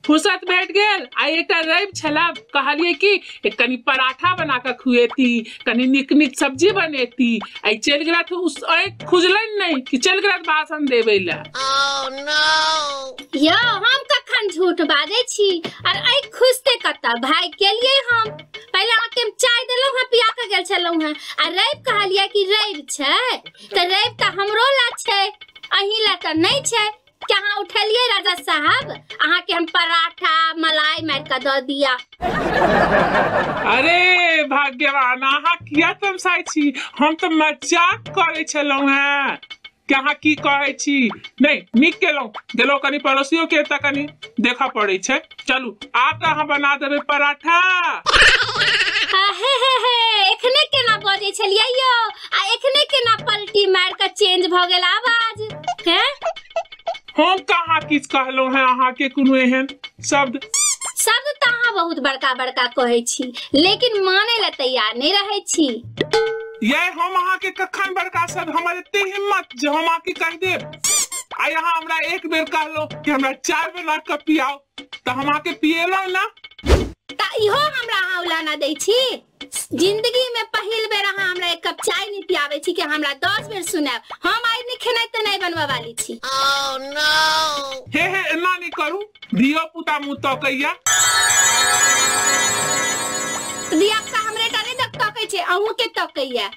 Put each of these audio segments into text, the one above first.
फुर्सत भेट गेल आ एकटा रवि छला कहलिए कि एक कनी पराठा बना कऽ खुएती कनी नीक नीक सब्जी बनेती आ ई चलि गेला तऽ उस आँखि खुजलनि नहि कि चलि गेला भाषण देबै लए यौ हम कखन झूठ बाजै छी आर आइ खुजते कतऽ भागि गेलियै हम पहिले अहाँके हम चाय देलहुँ हँ पिया कऽ गेल छलहुँ हँ आ रवि कहलियै कि रवि छै तऽ रवि तऽ हमरो लए छै अहीं लए तऽ नहि छै के अहाँ उठेलियै राजा साहब अहाँके हम पराठा मलाई मारि कऽ दऽ दिया अरे भाग्यवान अहाँ किया तमसाइ छी हम तऽ मजाक करै छलहुँ हेँ कि अहाँ की कहै छी नहि नीक केलहुँ गेलहुँ कनि पड़ोसियोके एतऽ कनि देखऽ पड़ै छै चलू आब तऽ अहाँ बना देबै पराठा हे हे हे हे एखने केना बजै छलियै यौ आ एखने केना पलटी मार कऽ चेंज भऽ गेल आवाज हैं हम कहाँ किछु कहलहुँ हेँ अहाँके कोनो एहन शब्द शब्द तऽ अहाँ बहुत बड़का बड़का कहै छी लेकिन मानै लए तैयार नहि रहै छी ये हम अहाँके कखन बड़का शब्द हमर एते हिम्मत जे हम अहाँके कहि देब आ यहाँ हमरा एक बेर कहलो कि हमरा चाय बना के पियाओ तो हम आके पिएला ना ता इहो हमरा अहाँ उलाना दै छी जिंदगी में पहिल बेर अहाँ हमरा एक कप चाय नहीं पियावे छी कि हमरा दस बेर सुनाब हम आइ नहीं खेनाइ ते नहीं बनवा वाली छी हे हे एना नहीं करू धियो पुता मुँह तकैया दिया का हमरे डरे तक तकै छै अहूँ के तकैया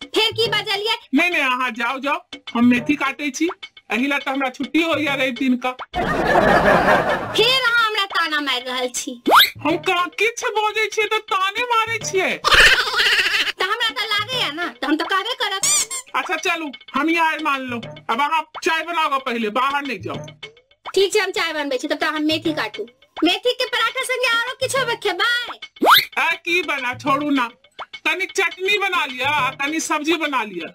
फेर की बजलियै नहि नहि अहाँ जाउ जाउ हम मेथी काटै छी एहि लए तऽ हमरा छुट्टी होइया रवि दिन का फेर अहाँ हमरा ताना मारि रहल छी हम कहाँ किछु बजै छियै तऽ ताने मारै छियै तऽ हमरा तऽ लागैया ने तऽ हम तऽ कहबे करब अच्छा चलू हम ही हार मान लो अब अहाँ चाय बनाओ पहले बाहर नहीं जाओ ठीक छै हम चाय बनबै छी तब तऽ हम मेथी काटू मेथी के पराठा संगे आरो किछो खेबै आ की बना छोड़ू ना तनी चटनी बना लिया आ तनी सब्जी बना लिया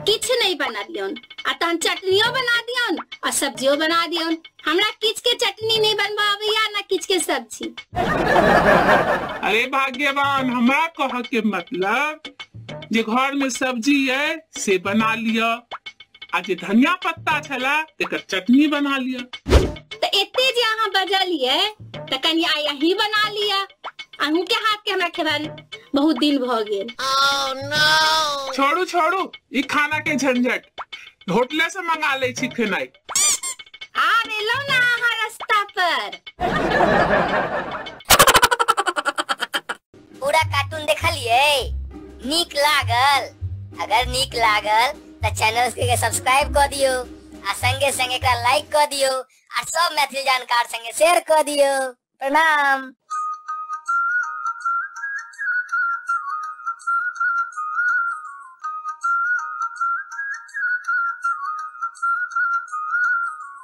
किछ नहीं बना दियोन आ तहन चटनियो बना दियोन आ सब्जियो बना दियोन हमरा किछ के चटनी नहीं बनबा आबैया ना किछ के सब्जी अरे भाग्यवान हमरा कह के मतलब जे घर में सब्जी है से बना लिया आ जे धनिया पत्ता छला तेकर चटनी बना लिया त एते जे अहाँ बजलिए त कनी आइ अही बना लिया अहूँ के हाथ के हमरा खेबान बहुत दिन भ गेल छोड़ू छोड़ू ई खाना के झंझट होटले से मंगा ले छी खेनाई आब एलो ना अहाँ रास्ता पर पूरा कार्टून देखलिए नीक लागल अगर नीक लागल तो चैनल के सब्सक्राइब कर दियो आ संगे संगे एकरा लाइक कर दियो आ सब मैथिली जानकार संगे शेयर कर दियो प्रणाम